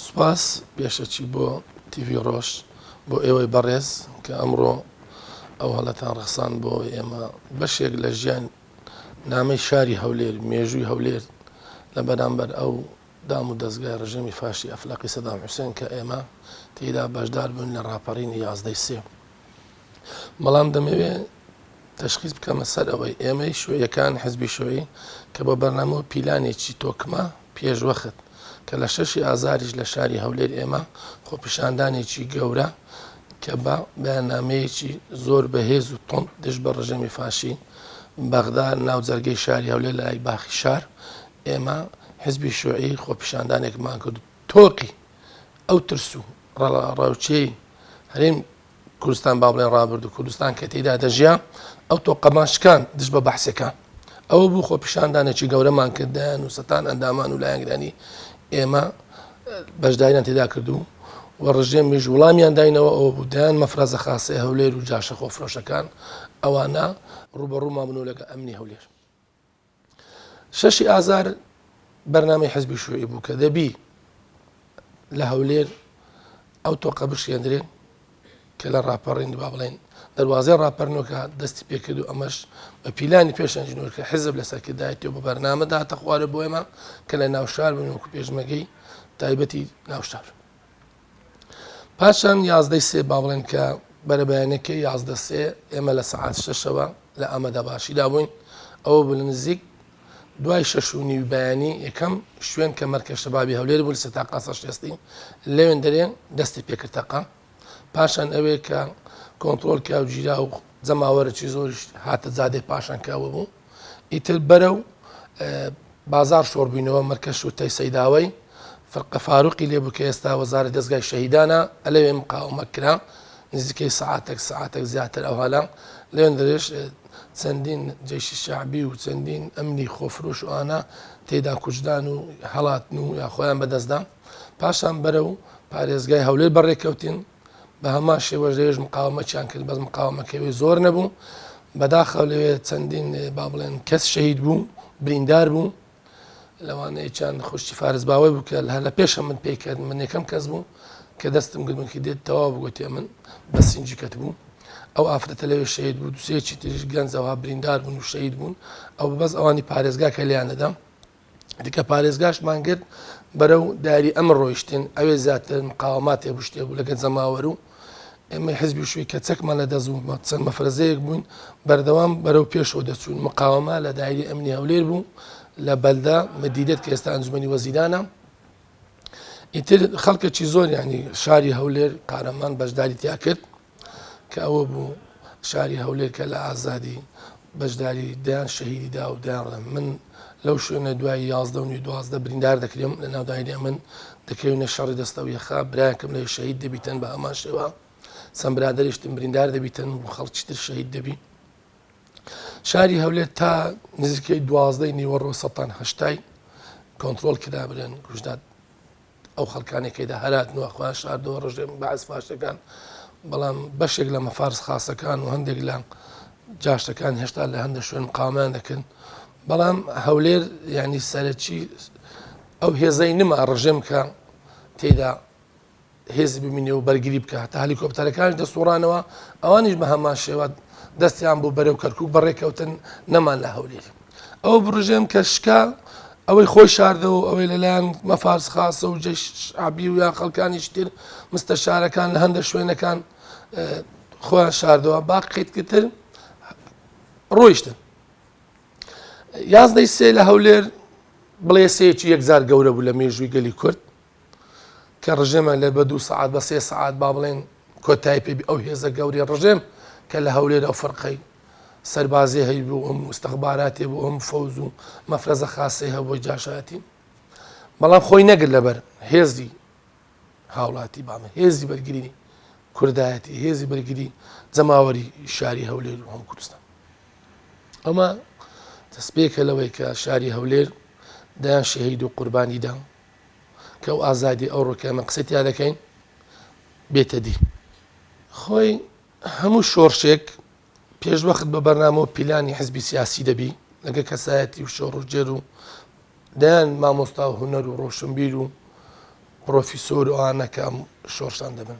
سوپاس پێشەکی بۆ تی ڤی ڕۆژ بۆ ئێوەی بەڕێز کە ئەمڕۆ ئەو هەڵەتان ڕەخساند بۆ ئێمە بەشێک لە ژیان نامەی شاری هەولێر مێژووی هەولێر لە بەرامبەر ئەو دام و دەزگای ڕژێمی فاشی ئەفلەقی سەدام حوسێن کە ئێمە تێیدا بەشدار بووین لە ڕاپەڕینی یازدەی سێ بەڵام دەمەوێ تەشخیز بکەمە سەر ئەوەی ئێمەی شوێیەکان حزبی شوێی کە بە بەرنامە و پیلانێکی تۆکمە پێشوەخت کە لە شەشی ئازاریش لە شاری هەولێر ئێمە خۆپیشاندانێکی گەورە کە بە بەیانامەیەکی زۆر بەهێز و تۆند دژ بە ڕژێمی فاشی بەغدا ناو جەرگەی شاری هەولێر لای باخی شار ئێمە حزبی شوعی خۆپیشاندانێکمان کرد تۆقی ئەو ترس و ڕەڵاڕاوچەی هەرێم کوردستان با بڵێن ڕابردوو کوردستان کە تێدا دەژیا ئەو تۆقەمان شکان دژ بە بەحسەکان ئەوە بوو خۆ پیشاندانێکی گەورەمان کردیان و سەتان ئەندامان و لایەنگرانی ئێمە بەشداریان تێدا کردو و ڕژێمیش وڵامیان داینەوە ئەو بوو دایان مەفرازە خاسی هەولێر و جاشە خۆفرۆشەکان ئەوانە ڕوبەڕوومان بنەوە لەگە ئەمنی هەولێر شەشی ئازار بەرنامەی حزبی شوعی بوو کە دەبی لە هەولێر ئەو تۆقە بشێندرێن کە لە ڕاپەڕین با بڵێن دەواازەی ڕاپەرنۆکە دەستی پێکرد و ئەمەش بە پیلانی پێشەنجنۆکە حزب لە سەرکردایەتی و بە بەرنامەدا تەخوارە بۆ ئێمە کە لە ناوشار بن وکو پێشمەگەی تایبەتی ناوشار. پاشان یازدەی سێ با بڵێن کە بەرەبەیانەکەی یازدە سێ ئێمە لە سعات شەشەوە لە ئەمەدا باشیدا بووین ئەوە بە نزیک دوای شەش و نیوی بەیانی یەکەم شوێن کە مەرکە شەبابی هەولێر بوو سە تاقا سەشتێستی لەوێن دەرێن دەستی پێکردتەقا پاشان ئەوێ کە کۆنتترۆل کاوگیرا و جەماوەرەی زۆریش هاتە زادێ پاشان کاوە بوو ئیتر بەرەو بازاڕ شۆڕبووینەوە، مەرکەز شورتەی سەیداوەی فرقە فاروقی لێ بوو کە ئێستا وەزارەی دەزگای شەهیدانە، لەوێ مقاومە کرا نزیکەی سەعاتەک سەعاتەک زیاتر ئەو هەلە، لەوێندەرێش چەندین جەیشی شەعبی و چەندین ئەمنی خۆفرۆش و ئانا تێیدا کوژران و هەڵاتن و یا خۆیان بەدەست دان، پاشان بەرەو پارێزگای هەولێر بەڕێکەوتین. بە هەمان شێوەش لەوێش مقاومەتیان کرد بەس مقاومەکەوێ زۆر نەبوو بەداخەوە لەوێ چەندین با بڵێن کەس شەهید بوو بریندار بوو لەوانەیە چند خوشتی فارس باوەی بوو کە هەر لە پێشە من پێی کرد من یەکەم کەس بوو کە دەستم گرمکی دێت تەوا بگوتێ من بە سنجی کەت بوو ئەو ئافرەتە لەوێ شەید بوو دوسێکی تریش گەنجەوە بریندار بوون و شەید بوون ئەو بەس ئەوانی پارێزگا کە لیان دەدەم دیکە پارێزگاشمان گرت بەرەو داری ئەمە ڕۆیشتن ئەوێ زیاتر مقاوماتێ بشتێ بوو لەگە جەماوەر و ئێمە حزبی شوی کە چەکمان لە دەزوو چەند مەفرەزەیەک بووین بەردەوام بەرەو پێشەوە دەچوون مقاومە لە دایری ئەمنی هەولێر بوو لە بەلدا مدیدت کە ئێستا ئەنجومی وەزیرانە ئیتر خەڵکەکی زۆر ینی شاری هەولێر قارەمان بەشداری تیا کرد کە ئەوە بوو شاری هەولێر کە لە ئازادی بەشداری دەیان شەهیدی دا و دەیان ڕێن من لەو شوێنە دوای یازدە و نوی دوازدە بریندار دەکرێم لە ناوداینی ئەمن دەکەوینە شەڕی دەستە و یەخا براکەم لە شەهید دەبیتن بە هەمان شێوە چەند برادریشتم بریندار دەبیتن و خەڵکی تر شەهید دەبی شاری هەولێر تا نزیکەی دوازدەی نیوەڕۆ سەتان هەشتای کۆنتترۆل کرابرێن گوشداد ئەو خەڵکانی کەدا هەراتن و خۆیان شاردەوە ڕژێم بەعس فاشەکان بەڵام بەشێک لە مەفارس خاصەکان و هەندێک لە جاشەکان هێشتا لە هەندە شوێن قامیان دەکەن بەڵام هەولێر ینی سەرەکی ئەو هێزای نما ڕژێم کە تێدا هێزی ببینێ و بەرگری بکە تا هەلیکۆپتەرەکان دەسوڕانەوە ئەوانیش بە هەمان شێوە دەستیان بۆ بەرەو کەرکک بەڕێکەوتن نەمان لە هەولێر ئەو بڕژێن کە شکا ئەوەی خۆی شاردەوە و ئەوەی لەلایەن مەفارس خاسە و جەیش شعبی و یا خەڵکانیش تر مستەشارەکان لە هەندێک شوێنەکان خۆیان شاردەوە باقیتکتر ڕۆیشتن یازدەی سێ لە هەولێر بڵێسەیەکی یەکجار گەورە بوو لە مێژووی گەلی کورد کە ڕژێمە لە بە دوو سەعات بە سێ سەعات با بڵێن کۆتای پێبی ئەو هێزە گەورەی ڕژێم کە لە هەولێر ئەو فەرقەی سەربازی هەی بوو ئەم مستەخباراتێ بوو ئەم فەوز و مەفرەزە خاسی هەبووی جاشاتی بەڵام خۆی نەگر لەبەر هێزی هاوڵاتی بامە هێزی بەرگری کوردایەتی هێزی بەرگری جەماوەری شاری هەولێر و هەم کوردستان ئەمە دەستپێکە لەوەی کە شاری هەولێر دایان شەهید و قوربانیدام کە ئەو ئازادی ئەو ڕۆکە ئەمە قسەی تیا دەکەین بێتە دی خۆی هەموو شۆرشێک پێشوەخت بە بەرنامە و پیلانی حزبی سیاسی دەبی لەگە کەسایەتی و شۆڕژێر و دەیان مامۆستا و هوەر و ڕۆشنبیر و پرۆفیسۆر و ئانەکەم شۆرشان دەبن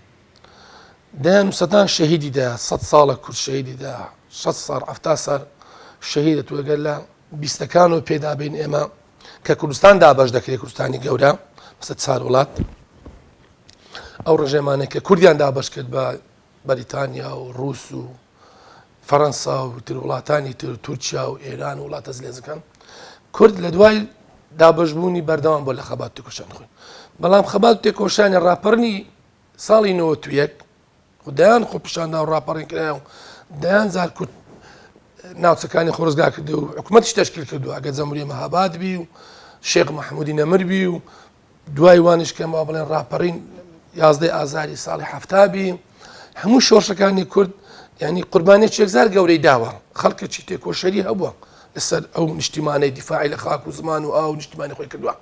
دەیان سەدان شەهیدیدا سە ساڵە کورد شەهیدیدا 6 ساڵ ئەفتا سەر شەهیدە توگەر لە بیستەکان و پێدابین ئێمە کە کوردستان دابش دەکرێت کوردستانی گەورە بەسە چار وڵات ئەو ڕژێمانە کە کوردیان دابش کرد بە بەریتانیا و ڕوس و فەەنسا و تر وڵاتانی تر تورکیا و ئێران و وڵاتە زلێزەکان کورد لە دوای دابشبوونی بەردەوام بۆ لە خەبات تێکۆشان خوێن بەڵام خەبات تێکۆشانی ڕاپەرنی ساڵی 91 و دەیان خۆپیشاندان و ڕاپەڕین کرایە و دەیان زار کورد ناوچەکانی خۆزگا کردو و حکوومەتش تشکیل کردو ئەگە جەموری مەهاباد بی و شێخ مححمودی نەمر بی و دوای وانش کەمەوە بڵێن ڕاپەڕین یازدەی ئازاری ساڵی هەفتابی هەموو شۆشەکانی کورد ینی قوربانی چێکزار گەورەی داوە خەڵکە چی تێکۆشەری هەبووە لەسەر ئەو نیشتیمانەی دیفاعی لە خاک و زمان و ئاو نیشتیمانی خۆی کردووە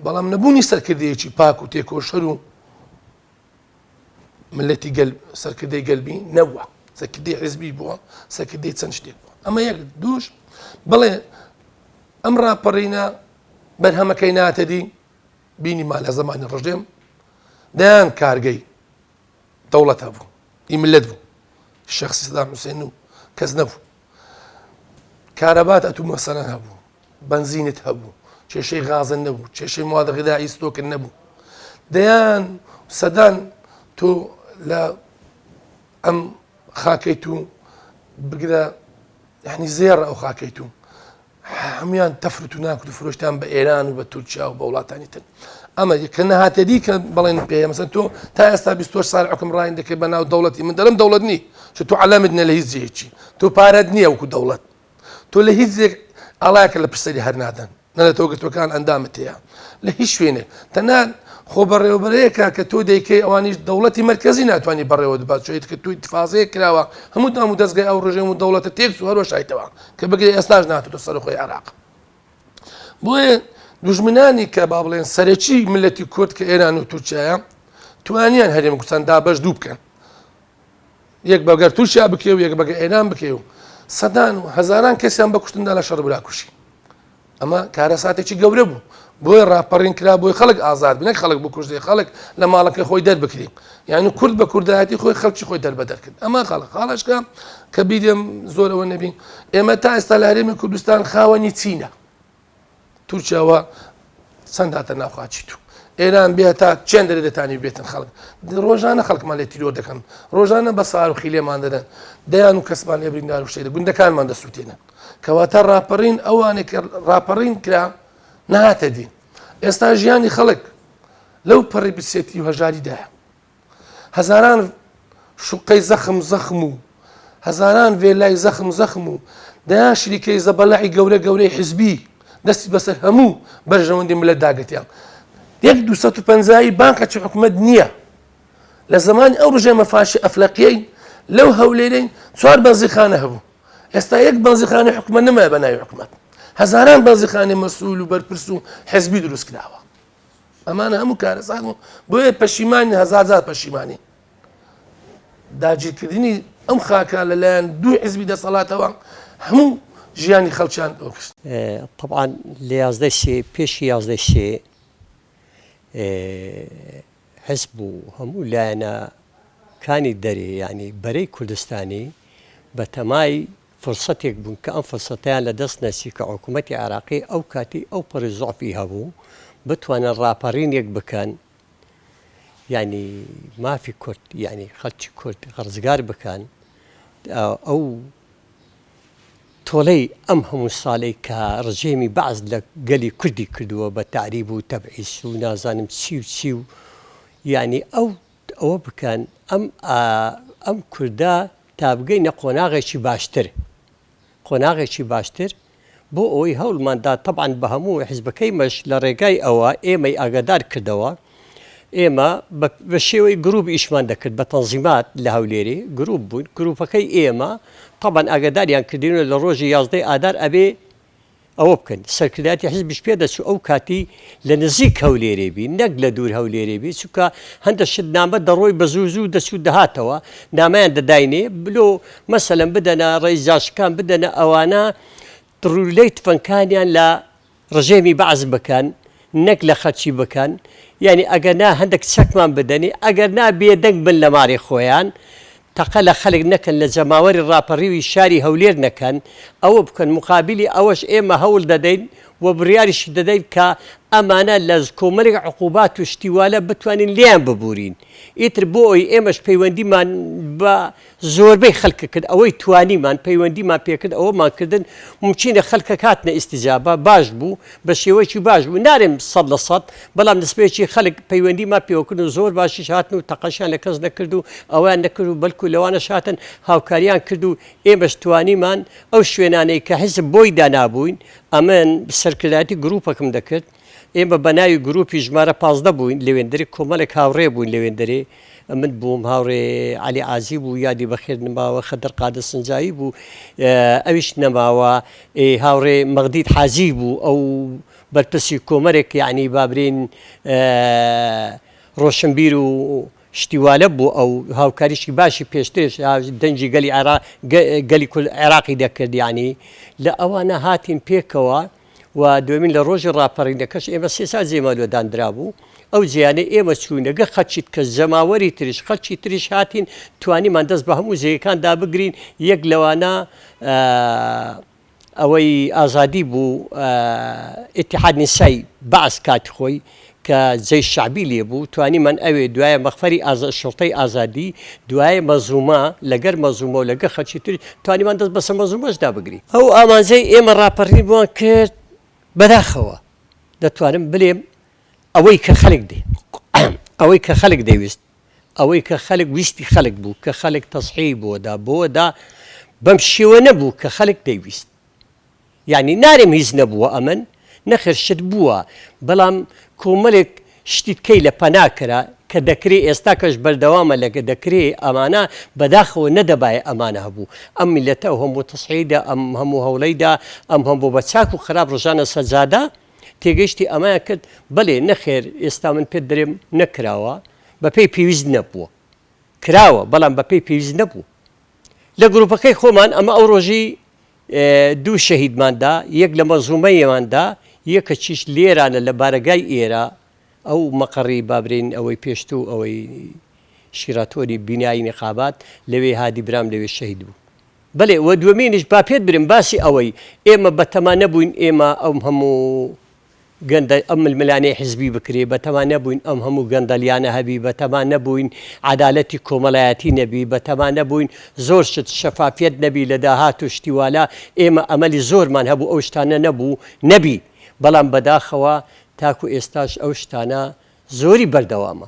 بەڵام نەبوونی سەرکردەیەکی پاک و تێکۆشەر و ملەتی گەل سەرکردەی گەلبی نەوە سەکردی حزبی بووە سەکردی چەند شتێک بووە ئەمە یەک دووش بڵێ ئەم ڕاپەڕینە بەرهەمەکەی ناتەدی بینیمان لە زمانی ڕژێم دەیان کارگەی دەوڵەتە بوو ئی ملت بوو شخصی سدام حوسێن و کەس نەبوو کارەبات ئەتو مەسەرەن هەبوو بەنزینت هەبوو کێشەی غازن نەبوو کێشەی موادە غدایی ستۆکن نەبوو دەیان سەدان تۆ لە ئەم خاکەی تو بگرە یعنی زێڕ ئەو خاکەی تو هەموان تەفرت و ناکرد و فرۆشتان بە ئێران و بە تورکیا و بە وڵاتانی تر ئەمە کە نەهاتە دی کە بڵێن پێ مەسە تۆ تا ئێستا 24 سال حکم ڕاین دەکەی بە ناو دەوڵەتی من دەڵم دەوڵەت نی چ تو علامت نە لە هیچ جێکی تۆ پارەت نییە وکو دەوڵەت تۆ لە هیچ زێک ئاڵایەکە لە پرسەری هەر نادەن نە لە تۆگرتوەکان ئەندامت هەیە لە هیچ شوێنێ تەنان خۆ بەڕێوەبەرەیەکە کە تۆ دەیکەی ئەوانیش دەوڵەتی مرکزی ناتوانانی بەڕێوە دبات چێت کە توی تفاازەیە کراوە هەموو دام و دەستگای ئەو ڕژێم و دەوڵەتە تێک و هەروەشایتەوە کە بگرێ ئێستاش ناتوتە سەرخۆی عراق بۆیە دژمنانی کە با بڵێن سەرەکی ملەتی کورد کە ئێران و تورکایە توانیان هەرێم کوردستان دابش دوو بکەن یەک بە گەر تورکیا بکەی و یەک بەگە ئێران بکەی و سەدان و هەزاران کەسیان بە کوشتندا لە شەڕ براکوشی ئەمە کارە ساتێکی گەورە بوو بۆی ڕاپەڕین کرا بۆی خەڵک ئازاد بنەک خەڵک بکوژێ خەڵک لە ماڵەکە خۆی دەربکرین یعنی کورد بە کوردایەتی خۆی خەڵکی خۆی دەربە دەرکرد ئەمە خەڵک خاڵشکە کە بیرم زۆرەوە نەبین ئێمە تا ئێستا لە هەرێمی کوردستان خاوەنی چینە تورکیاوە چەند هاتە ناو خاچی تو ئێران بێ تا چێن دەێ دەتانی بێتن خەڵک ڕۆژانە خەڵکمان لێ تیرۆر دەکەن ڕۆژانە بە ساروخی لێمان دەدەن دەیان و کەسمان لێ بریندار و شێدە گوندەکانمان دەسووتێنن کەواتە ڕاپەڕین ئەوانێک ڕاپەڕین کرا نهاتە دین ئێستا ژیانی خەڵک لەو پەڕی بسێتی و هەژاریدایە هەزاران شوقەی زەخم زەخم و هەزاران ڤێلای زەخم زەخم و دەیان شریکەی زەبەلاعی گەورە گەورەی حزبی دەستی بەسەر هەموو بەرژەوەندی ملت داگرتیان یەک دو پەنجایی بانقە چ حکومت نییە لە زمانی ئەو ڕژێمە فاشی ئەفلەقیەی لەو هەولێرەی چوار بەنزیخانە هەبوو ئێستا یەک بەنزیخانەی حکومە نمایە بە ناوی حکومت هەزاران بەنزیخانەی مەسول و بەرپرس و حزبی دروست کراوە ئەمانە هەموو کارەسان و بۆیە پەشیمانی هەزارزار پەشیمانی داگیرکردنی ئەم خاکە لەلایەن دوو حزبی دەسەڵاتەوە هەموو ژیانی خەڵچیان ئۆکس طبعاان لە یازدە سێ پێشی یازدە سێ حزب و هەموو لایەنە کانی دەرێ ینی بەرەی کوردستانی بەتەمای فرسەتێک بوون کە ئەم فرسەتەیان لە دەست نەچی کە حکوومەتی عێراقی ئەو کاتی ئەو پەڕی زوعفی هەبوو بتوانن ڕاپەڕینێک بکەن یانی مافی کورد یانی خەلکی کورد ڕزگار بکەن ئەو تۆڵەی ئەم هەموو ساڵەی کە ڕژێمی بەعز لە گەلی کوردی کردووە بە تعریب و تەبعیس و نازانم چی و چی و یانی ئەو ئەوە بکەن ئەم ئەم کوردە تا بگەینە قۆناغێکی باشتر قۆناغێکی باشتر بۆ ئەوەی هەوڵماندا تەبان بە هەموو حزبەکەی مەش لە ڕێگای ئەوە ئێمەی ئاگادار کردەوە ئێمە بە شێوەی گروپ ئیشمان دەکرد بە تەنزیمات لە هەولێری گروپ بوون گروپەکەی ئێمە تەبان ئاگاداریان کردینە لە ڕۆژی یازدەی ئادار ئەبێ ئەوە بکەن سەرکردایەتی حیزبیش پێ دەچوو ئەو کاتی لە نزیک هەولێرێ بی نەک لە دوور هەولێرێ بی چونکە هەندە شت نامە دەڕۆی بە زوو زوو دەچوو دەهاتەوە نامەیان دەداینێ بلۆ مەسەلەن بدەنە ڕێی جاشەکان بدەنە ئەوانە ڕوولەی تفەنکانیان لە ڕژێمی بەعس بکەن نەک لە خەلکی بکەن یانی ئەگەر نا هەندێک چەکمان بدەنی ئەگەر نا بێدەنگ بن لە مارێ خۆیان تەقە لە خەلک نەکەن لە جەماوەری راپەریوی شاری هەولێر نەکەن ئەوە بکەن موقابیلی ئەوەش ئێمە هەول دەدەین و بریاریش دەدەین کە ئەمانە لە کۆمەلێک عقوبات و شتی والە بتوانین لێیان ببورین ئیتر بۆ ئەوی ئێمەش پەیوەندیمان بە زۆربەی خەلک کرد ئەوەی توانیمان پەیوەندیمان پێکرد ئەوەمان کردن مومکینە خەلکەک هاتنە ئیستجابە باش بوو بە شێوەکی باش بوو نارێم سەد لە سەد بەڵام نسبەیەکی خەلک پەیوەندیمان پێوەکرد و زۆر باشیش هاتن و تەقەشیان لە کەس نەکرد و ئەوەیان نەکرد و بەلکو لەوانەش هاتن هاوکاریان کرد و ئێمەش توانیمان ئەو شوێنانەی کە حیزب بۆی دانابووین ئەمن سەرکردایەتی گروپەکم دەکرد ئێمە بەناوی گروپی ژمارە پازدە بووین لەوێندرێ کۆمەلێک هاوڕێ بووین لەوێندرێ من بووم هاوڕێ عەلی عازی بوو یادی بەخێر نماوە خەدر قادر سنجاوی بوو ئەویش نەماوە هاوڕێ مەغدید حازی بوو ئەو بەرپرسی کۆمەرێک یەعنی با برێین ڕۆشنبیر و شتی وا لە بوو ئەو هاوکاریشی باشی پێشترش دەنجی گەلی عێرا گەلی کول عێراقی دەکرد یانی لە ئەوانە هاتین پێکەوە و دوێمین لە ڕۆژی ڕاپەڕینەکەش ئێمە سێسا جێمەلۆدان درابوو ئەو جیانەی ئێمە چوینەگە خەچیت کە جەماوەری تریش خەچی تریش هاتین توانیمان دەست بە هەموو جێگەکان دابگرین یەک لەوانە ئەوەی ئازادی بوو ئیتیحاد نیسای بەعس کاتی خۆی کە جەیش شەعبی لێ بوو توانیمان ئەوێ دوایە مەخفەری ئازا شوڕتەی ئازادی دوایە مەزوومە لەگەر مەزوومە و لەگە خەرچی تر توانیمان دەست بەسە مەزوومەش دا بگری ئەو ئامانجەی ئێمە ڕاپەڕینمان کرد بەداخەوە دەتوانم بلێم ئەوەی کە خەلک ئەوەی کە خەلک دەیوست ئەوەی کە خەلک ویستی خەلک بوو کە خەلک تەسحیەی بۆ دا بۆ دا بەم شێوە نەبوو کە خەلک دەی ویست یانی نارێم هیچ نەبووە ئەمن نەخێر شت بووە بەلام کۆمەلێک شتی کەی لە پەنا کرا کە دەکرێ ئێستا کەش بەردەوامە لە گە دەکرێ ئەمانە بەداخەوە نەدەبایە ئەمانە هەبوو ئەم میلەتە ئەو هەموو تەسحیەی دا ئەم هەموو هەولەی دا ئەم هەموو بە چاک و خراپ رژانە سەر جادە تێگەیشتی ئەمەیان کرد بەلێ نەخێر ئێستا من پێت درێم نەکراوە بەپێی پێویست نەبووە کراوە بەڵام بەپێی پێویست نەبوو لە گروپەکەی خۆمان ئەمە ئەو ڕۆژی دوو شەهیدماندا یەک لە مەزومەیەماندا یەکە چیش لێرانە لە بارەگای ئێرە ئەو مەقڕی بابرین ئەوەی پێشتوو ئەوەی شیراتۆری بینایی نقابات لەوێ هادی برام لەوێ شەهید بوو بەلێ وە دوەمینیش با پێت برێم باسی ئەوەی ئێمە بەتەما نەبووین ئێمە ئەم هەموو گەندە ئەم ململانێ حزبی بکرێ بەتەما نەبووین ئەم هەموو گەندەلیانە هەبی بەتەما نەبووین عەدالەتی کۆمەلایەتی نەبی بەتەما نەبووین زۆر شت شەفافیەت نەبی لە داهات و شتی والا ئێمە ئەمەلی زۆرمان هەبوو ئەو شتانە نەبوو نەبی بەڵام بەداخەوە تاکو ئێستاش ئەو شتانە زۆری بەردەوامە